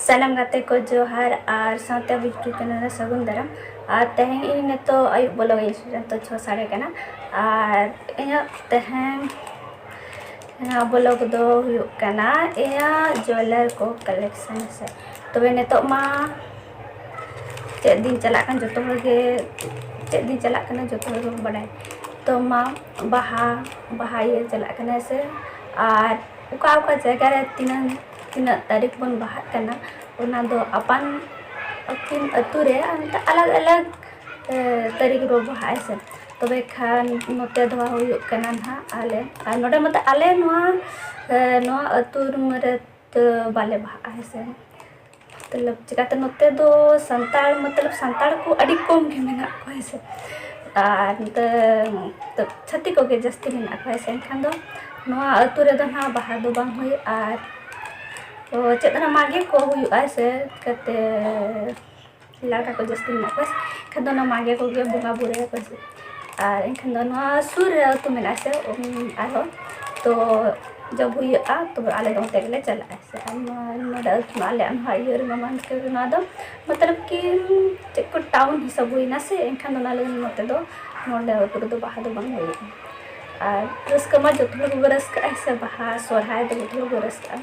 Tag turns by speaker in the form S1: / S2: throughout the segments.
S1: ᱥᱟᱱᱟᱢ ᱜᱟᱛᱮ ᱠᱚ ᱡᱚᱦᱟᱨ ᱟᱨ ᱥᱟᱶᱛᱮ ᱟᱵᱚ ᱭᱩᱴᱩᱵᱽ ᱪᱮᱱᱮᱞ ᱨᱮ ᱥᱟᱹᱜᱩᱱ ᱫᱟᱨᱟᱢ ᱟᱨ ᱛᱮᱦᱮᱧ ᱤᱧ ᱱᱤᱛᱚᱜ ᱟᱹᱭᱩᱵ ᱵᱚᱞᱚᱜ ᱤᱧ ᱥᱮᱴᱮᱨ ᱱᱤᱛᱚᱜ ᱪᱷᱚ ᱥᱟᱲᱮ ᱠᱟᱱᱟ ᱟᱨ ᱤᱧᱟᱹᱜ ᱛᱮᱦᱮᱧ ᱱᱚᱣᱟ ᱵᱞᱚᱜᱽ ᱫᱚ ᱦᱩᱭᱩᱜ ᱠᱟᱱᱟ ᱤᱧᱟᱹᱜ ᱡᱩᱭᱮᱞᱟᱨ ᱠᱚ ᱠᱟᱞᱮᱠᱥᱚᱱ ᱥᱮ ᱛᱚᱵᱮ ᱱᱤᱛᱚᱜ ᱢᱟ ᱪᱮᱫ ᱫᱤᱱ ᱪᱟᱞᱟᱜ ᱠᱟᱱ ᱡᱚᱛᱚ ᱦᱚᱲ ᱜᱮ ᱪᱮᱫ ᱫᱤᱱ ᱪᱟᱞᱟᱜ ᱠᱟᱱᱟ ᱡᱚᱛᱚ ᱦᱚᱲ ᱜᱮᱵᱚᱱ ᱵᱟᱰᱟᱭᱟ ᱛᱚ ᱢᱟ ᱵᱟᱦᱟ ᱵᱟᱦᱟ ᱤᱭᱟᱹ ᱪᱟᱞᱟᱜ ᱠᱟᱱᱟ ᱥᱮ ᱟᱨ ᱚᱠᱟ ᱚᱠᱟ ᱡᱟᱭᱜᱟ ᱨᱮ ᱛᱤᱱᱟᱹᱝ ᱛᱤᱱᱟᱹᱜ ᱛᱟᱹᱨᱤᱠᱷ ᱵᱚᱱ ᱵᱟᱦᱟᱜ ᱠᱟᱱᱟ ᱚᱱᱟ ᱫᱚ ᱟᱯᱟᱱ ᱟᱹᱯᱤᱱ ᱟᱹᱛᱩ ᱨᱮ ᱚᱱᱠᱟ ᱟᱞᱟᱜᱽ ᱟᱞᱟᱜᱽ ᱛᱟᱹᱨᱤᱠᱷ ᱨᱮᱵᱚ ᱵᱟᱦᱟᱜᱼᱟ ᱦᱮᱸ ᱥᱮ ᱛᱚᱵᱮ ᱠᱷᱟᱱ ᱱᱚᱛᱮ ᱫᱚ ᱦᱩᱭᱩᱜ ᱠᱟᱱᱟ ᱦᱟᱸᱜ ᱟᱞᱮ ᱟᱨ ᱱᱚᱰᱮ ᱢᱟᱛᱚ ᱟᱞᱮ ᱱᱚᱣᱟ ᱱᱚᱣᱟ ᱟᱹᱛᱩ ᱨᱮ ᱵᱟᱞᱮ ᱵᱟᱦᱟᱜᱼᱟ ᱦᱮᱸ ᱥᱮ ᱢᱚᱛᱞᱚᱵ ᱪᱤᱠᱟᱹᱛᱮ ᱱᱚᱛᱮ ᱫᱚ ᱥᱟᱱᱛᱟᱲ ᱢᱚᱛᱞᱚᱵ ᱥᱟᱱᱛᱟᱲ ᱠᱚ ᱟᱹᱰᱤ ᱠᱚᱢ ᱜᱮ ᱢᱮᱱᱟᱜ ᱠᱚᱣᱟ ᱦᱮᱸ ᱥᱮ ᱟᱨ ᱱᱚᱛᱮ ᱪᱷᱟᱹᱛᱤᱠ ᱠᱚᱜᱮ ᱡᱟᱹᱥᱛᱤ ᱢᱮᱱᱟᱜ ᱠᱚᱣᱟ ᱦᱮᱸ ᱥᱮ ᱮᱱᱠᱷᱟᱱ ᱫᱚ ᱱᱚᱣᱟ ᱟᱹᱛᱩ ᱨᱮᱫᱚ ᱦᱟᱸᱜ ᱵᱟᱦᱟ ᱫᱚ ᱵᱟᱝ ᱦᱩᱭᱩᱜᱼᱟ ᱟᱨ ᱪᱮᱫ ᱨᱮᱱᱟᱜ ᱢᱟᱜᱮ ᱠᱚ ᱦᱩᱭᱩᱜᱼᱟ ᱦᱮᱸ ᱥᱮ ᱪᱤᱠᱟᱹᱛᱮ ᱞᱟᱲᱠᱟ ᱠᱚ ᱡᱟᱹᱥᱛᱤ ᱢᱮᱱᱟᱜ ᱠᱚᱣᱟ ᱮᱱᱠᱷᱟᱱ ᱫᱚ ᱚᱱᱟ ᱢᱟᱜᱮ ᱠᱚᱜᱮ ᱵᱚᱸᱜᱟ ᱵᱳᱨᱳᱭᱟᱠᱚ ᱥᱮ ᱟᱨ ᱮᱱᱠᱷᱟᱱ ᱫᱚ ᱱᱚᱣᱟ ᱥᱩᱨ ᱨᱮ ᱟᱹᱛᱩ ᱢᱮᱱᱟᱜᱼᱟ ᱥᱮ ᱟᱨᱦᱚᱸ ᱛᱚ ᱡᱚᱵ ᱦᱩᱭᱩᱜᱼᱟ ᱛᱚ ᱟᱞᱮ ᱫᱚ ᱚᱱᱛᱮ ᱜᱮᱞᱮ ᱪᱟᱞᱟᱜᱼᱟ ᱥᱮ ᱟᱨ ᱱᱚᱣᱟ ᱱᱚᱰᱮ ᱟᱞᱮ ᱱᱚᱣᱟ ᱤᱭᱟᱹ ᱨᱮᱢᱟ ᱢᱟᱱᱠᱚᱨ ᱱᱚᱣᱟ ᱫᱚ ᱢᱚᱛᱞᱚᱵ ᱠᱤ ᱪᱮᱫ ᱠᱚ ᱴᱟᱣᱩᱱ ᱦᱤᱥᱟᱹᱵ ᱦᱩᱭᱱᱟ ᱥᱮ ᱮᱱᱠᱷᱟᱱ ᱚᱱᱟ ᱞᱟᱹᱜᱤᱫ ᱱᱚᱛᱮ ᱫᱚ ᱱᱚᱰᱮ ᱟᱹᱛᱩ ᱨᱮᱫᱚ ᱵᱟᱦᱟ ᱫᱚ ᱵᱟᱝ ᱦᱩᱭᱩᱜᱼᱟ ᱟᱨ ᱨᱟᱹᱥᱠᱟᱹ ᱢᱟ ᱡᱚᱛᱚ ᱦᱚᱲ ᱜᱮᱵᱚᱱ ᱨᱟᱹᱥᱠᱟᱹᱜᱼᱟ ᱥᱮ ᱵᱟᱦᱟ ᱥᱚᱦᱨᱟᱭ ᱫᱚ ᱡᱚᱛᱚ ᱦᱚᱲ ᱵᱚᱱ ᱨᱟᱹᱥᱠᱟᱹᱜᱼᱟ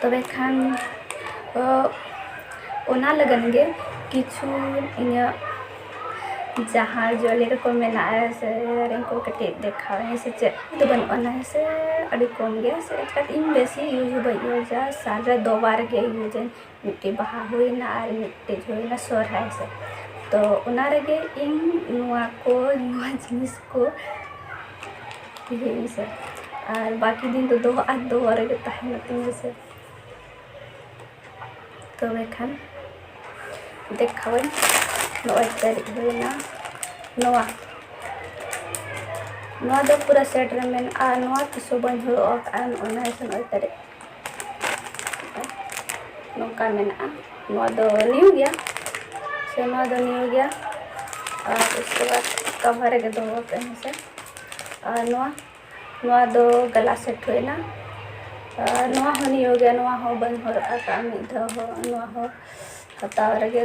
S1: ᱛᱚᱵᱮ ᱠᱷᱟᱱ ᱚᱱᱟ ᱞᱟᱹᱜᱤᱫ ᱜᱮ ᱠᱤᱪᱷᱩ ᱤᱧᱟᱹᱜ ᱡᱟᱦᱟᱸ ᱡᱩᱭᱮᱞᱟᱨᱤ ᱠᱚ ᱢᱮᱱᱟᱜᱼᱟ ᱥᱮ ᱤᱭᱟᱨᱤᱝ ᱠᱚ ᱠᱟᱹᱴᱤᱡ ᱫᱮᱠᱷᱟᱣ ᱤᱧ ᱥᱮ ᱪᱮᱫ ᱫᱚ ᱵᱟᱹᱱᱩᱜ ᱟᱱᱟ ᱦᱮᱸ ᱥᱮ ᱟᱹᱰᱤ ᱠᱚᱢ ᱜᱮᱭᱟ ᱥᱮ ᱤᱧ ᱵᱮᱥᱤ ᱤᱭᱩᱡᱽ ᱦᱚᱸ ᱵᱟᱹᱧ ᱤᱭᱩᱡᱟ ᱥᱟᱞ ᱨᱮ ᱫᱩ ᱵᱟᱨ ᱜᱮ ᱤᱭᱩᱡᱽ ᱟᱹᱧ ᱢᱤᱫᱴᱮᱡ ᱵᱟᱦᱟ ᱦᱩᱭᱮᱱᱟ ᱟᱨ ᱢᱤᱫᱴᱮᱡ ᱦᱩᱭᱮᱱᱟ ᱥᱚᱨᱦᱟᱭ ᱥᱮᱫ ᱛᱚ ᱚᱱᱟ ᱨᱮᱜᱮ ᱤᱧ ᱱᱚᱣᱟ ᱠᱚ ᱱᱚᱣᱟ ᱡᱤᱱᱤᱥ ᱠᱚ ᱦᱩᱭᱩᱜᱼᱟ ᱥᱮ ᱟᱨ ᱵᱟᱹᱠᱤ ᱫᱤᱱ ᱫᱚ ᱫᱚᱦᱚ ᱟᱨ ᱫᱚᱦᱚ ᱨᱮᱜᱮ ᱛᱟᱦᱮᱱᱚᱜ ᱛᱤᱧᱟᱹ ᱥᱮ ᱛᱚᱵᱮ ᱠᱷᱟᱱ ᱫᱮᱠᱷᱟᱣᱟᱹᱧ ᱱᱚᱜᱼᱚᱭ ᱛᱟᱹᱨᱤᱡ ᱦᱩᱭᱮᱱᱟ ᱱᱚᱣᱟ ᱱᱚᱣᱟ ᱫᱚ ᱯᱩᱨᱟᱹ ᱥᱮᱴ ᱨᱮ ᱢᱮᱱᱟᱜᱼᱟ ᱱᱚᱣᱟ ᱛᱤᱥ ᱦᱚᱸ ᱵᱟᱹᱧ ᱦᱚᱨᱚᱜ ᱟᱠᱟᱫᱼᱟ ᱱᱚᱜᱼᱚᱭ ᱱᱟᱦᱟᱜ ᱱᱚᱜᱼᱚᱭ ᱛᱟᱹᱨᱤᱡ ᱱᱚᱝᱠᱟ ᱢᱮᱱᱟᱜᱼᱟ ᱱᱚᱣᱟ ᱫᱚ ᱱᱤᱭᱩ ᱜᱮᱭᱟ ᱥᱮ ᱱᱚᱣᱟ ᱫᱚ ᱱᱤᱭᱩ ᱜᱮᱭᱟ ᱟᱨ ᱩᱥᱠᱮ ᱵᱟᱫ ᱠᱟᱵᱷᱟᱨ ᱨᱮᱜᱮ ᱫᱚᱦᱚ ᱠᱟᱜ ᱟᱹᱧ ᱦᱮᱸᱥᱮ ᱟᱨ ᱱᱚᱣᱟ ᱱᱚᱣᱟ ᱫᱚ ᱜᱟᱞᱟ ᱥᱮᱴ ᱦᱩᱭᱱᱟ ᱟᱨ ᱱᱚᱣᱟ ᱦᱚᱸ ᱱᱤᱭᱩ ᱜᱮᱭᱟ ᱱᱚᱣᱟ ᱦᱚᱸ ᱵᱟᱹᱧ ᱦᱚᱨᱚᱜ ᱟᱠᱟᱫᱼᱟ ᱢᱤᱫ ᱫᱷᱟᱣ ᱦᱚᱸ ᱱᱚᱣᱟ ᱦᱚᱸ ᱦᱟᱛᱟᱣ ᱨᱮᱜᱮ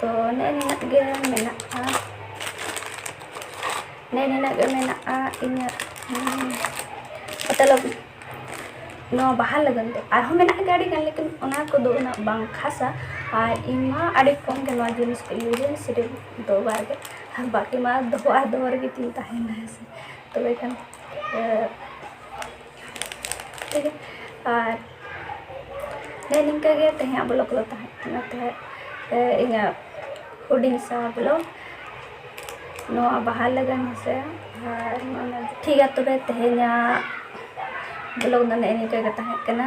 S1: ᱛᱚ ᱱᱮᱜᱼᱮ ᱱᱤᱱᱟᱹᱜ ᱜᱮ ᱢᱮᱱᱟᱜᱼᱟ ᱱᱮᱜᱼᱮ ᱱᱤᱱᱟᱹᱜ ᱜᱮ ᱢᱮᱱᱟᱜᱼᱟ ᱤᱧᱟᱹᱜ ᱢᱚᱛᱞᱚᱵ ᱱᱚᱣᱟ ᱵᱟᱦᱟ ᱞᱟᱹᱜᱤᱫ ᱛᱮ ᱟᱨᱦᱚᱸ ᱢᱮᱱᱟᱜ ᱜᱮᱭᱟ ᱟᱹᱰᱤᱜᱟᱱ ᱞᱮᱠᱤᱱ ᱚᱱᱟ ᱠᱚᱫᱚ ᱩᱱᱟᱹᱜ ᱵᱟᱝ ᱠᱷᱟᱥᱟ ᱟᱨ ᱤᱧ ᱢᱟ ᱟᱹᱰᱤ ᱠᱚᱢ ᱜᱮ ᱱᱚᱣᱟ ᱡᱤᱱᱤᱥ ᱠᱚ ᱤᱭᱩᱡᱽ ᱟᱹᱧ ᱥᱤᱨᱤᱯ ᱫᱚ ᱵᱟᱨ ᱜᱮ ᱟᱨ ᱵᱟᱹᱠᱤ ᱢᱟ ᱫᱚᱦᱚ ᱟᱨ ᱫᱚᱦᱚ ᱨᱮᱜᱮ ᱛᱤᱧ ᱛᱟᱦᱮᱱᱟ ᱦᱮᱸ ᱥᱮ ᱛᱚᱵᱮ ᱠᱷᱟᱱ ᱴᱷᱤᱠ ᱜᱮᱭᱟ ᱟᱨ ᱦᱮᱸ ᱱᱤᱝᱠᱟᱹ ᱜᱮ ᱛᱮᱦᱮᱧᱟᱜ ᱵᱞᱚᱜᱽ ᱫᱚ ᱛᱟᱦᱮᱸ ᱠᱟᱱᱟ ᱛᱟᱦᱮᱸᱫ ᱤᱧᱟᱹᱜ ᱦᱩᱰᱤᱧ ᱥᱟ ᱵᱞᱚᱜᱽ ᱱᱚᱣᱟ ᱵᱟᱦᱟ ᱞᱟᱹᱜᱤᱫ ᱦᱮᱸᱥᱮ ᱟᱨ ᱴᱷᱤᱠ ᱜᱮᱭᱟ ᱛᱚᱵᱮ ᱛᱮᱦᱮᱧᱟᱜ ᱵᱞᱚᱜᱽ ᱫᱚ ᱱᱮᱜᱼᱮ ᱱᱤᱝᱠᱟᱹ ᱜᱮ ᱛᱟᱦᱮᱸ ᱠᱟᱱᱟ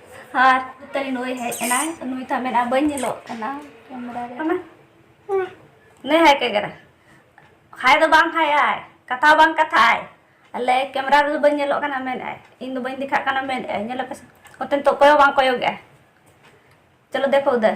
S1: ᱟᱨ ᱛᱟᱹᱨᱤ ᱱᱩᱭ ᱦᱮᱡ ᱮᱱᱟᱭ ᱱᱩᱭ ᱛᱟ ᱢᱮᱱᱟ ᱵᱟᱹᱧ ᱧᱮᱞᱚᱜ ᱠᱟᱱᱟ ᱠᱮᱢᱮᱨᱟ ᱨᱮ ᱠᱟᱱᱟ ᱱᱮ ᱦᱟᱭ ᱠᱮᱜᱮᱨᱟ ᱦᱟᱭ ᱫᱚ ᱵᱟᱝ ᱦᱟᱭ ᱟᱭ ᱠᱟᱛᱷᱟ ᱵᱟᱝ ᱠᱟᱛᱷᱟ ᱟᱭ ᱟᱞᱮ ᱠᱮᱢᱮᱨᱟ ᱨᱮ ᱵᱟᱹᱧ ᱧᱮᱞᱚᱜ ᱠᱟᱱᱟ ᱢᱮᱱ ᱟᱭ ᱤᱧ ᱫᱚ ᱵᱟᱹᱧ ᱫᱮᱠᱷᱟᱜ ᱠᱟᱱᱟ ᱢᱮᱱ ᱟᱭ ᱧᱮᱞᱚᱜ ᱯᱮ ᱚᱛᱮᱱ ᱛᱚ ᱚᱠᱚᱭ ᱦᱚᱸ ᱵᱟᱝ ᱠᱚᱭᱚᱜᱮᱜᱼᱟ ᱪᱚᱞᱚ ᱫᱮᱠᱷᱚ ᱩᱫᱷᱟᱨ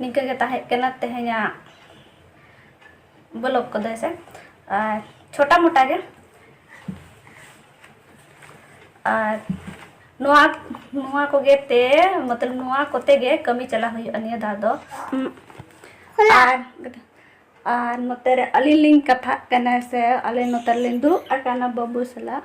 S1: ᱱᱤᱝᱠᱟᱹ ᱜᱮ ᱛᱟᱦᱮᱸ ᱠᱟᱱᱟ ᱛᱮᱦᱮᱧᱟᱜ ᱵᱞᱚᱜ ᱠᱚᱫᱚ ᱥᱮ ᱟᱨ ᱪᱷᱳᱴᱟ ᱢᱳᱴᱟ ᱜᱮ ᱟᱨ ᱱᱚᱣᱟ ᱱᱚᱣᱟ ᱠᱚᱜᱮ ᱛᱮ ᱢᱚᱛᱞᱚᱵ ᱱᱚᱣᱟ ᱠᱚᱛᱮ ᱜᱮ ᱠᱟᱹᱢᱤ ᱪᱟᱞᱟ ᱦᱩᱭᱩᱜᱼᱟ ᱱᱤᱭᱟᱹ ᱫᱷᱟᱣ ᱫᱚ ᱟᱨ ᱟᱨ ᱱᱚᱛᱮ ᱨᱮ ᱟᱹᱞᱤᱧ ᱞᱤᱧ ᱠᱟᱛᱷᱟᱜ ᱠᱟᱱᱟ ᱥᱮ ᱟᱞᱮ ᱱᱚᱛᱮ ᱨᱮᱞᱤᱧ ᱫᱩᱲᱩᱵ ᱟᱠᱟᱱᱟ ᱵᱟᱹᱵᱩ ᱥᱟᱞᱟᱜ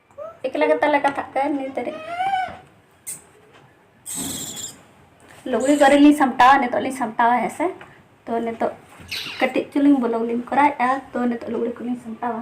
S1: ᱮᱠᱞᱟ ᱜᱮ ᱛᱟᱞᱮ ᱠᱟᱛᱷᱟᱜ ᱠᱟᱱ ᱱᱤᱛ ᱨᱮ ᱞᱩᱜᱽᱲᱤ ᱠᱚᱨᱮ ᱞᱤᱧ ᱥᱟᱢᱴᱟᱣᱟ ᱱᱤᱛᱚᱜ ᱞᱤᱧ ᱥᱟᱢᱴᱟᱣᱟ ᱦᱮᱸ ᱥᱮ ᱛᱚ ᱱᱤᱛᱚᱜ ᱠᱟᱹᱴᱤᱡ ᱪᱩᱞᱩᱝ ᱵᱚᱞᱚᱜ ᱞᱤᱧ ᱠᱚᱨᱟᱣᱮᱫᱼᱟ ᱛᱚ ᱱᱤᱛᱚᱜ ᱞᱩᱜᱽᱲᱤ ᱠᱚᱞᱤᱧ ᱥᱟᱢᱴᱟᱣᱟ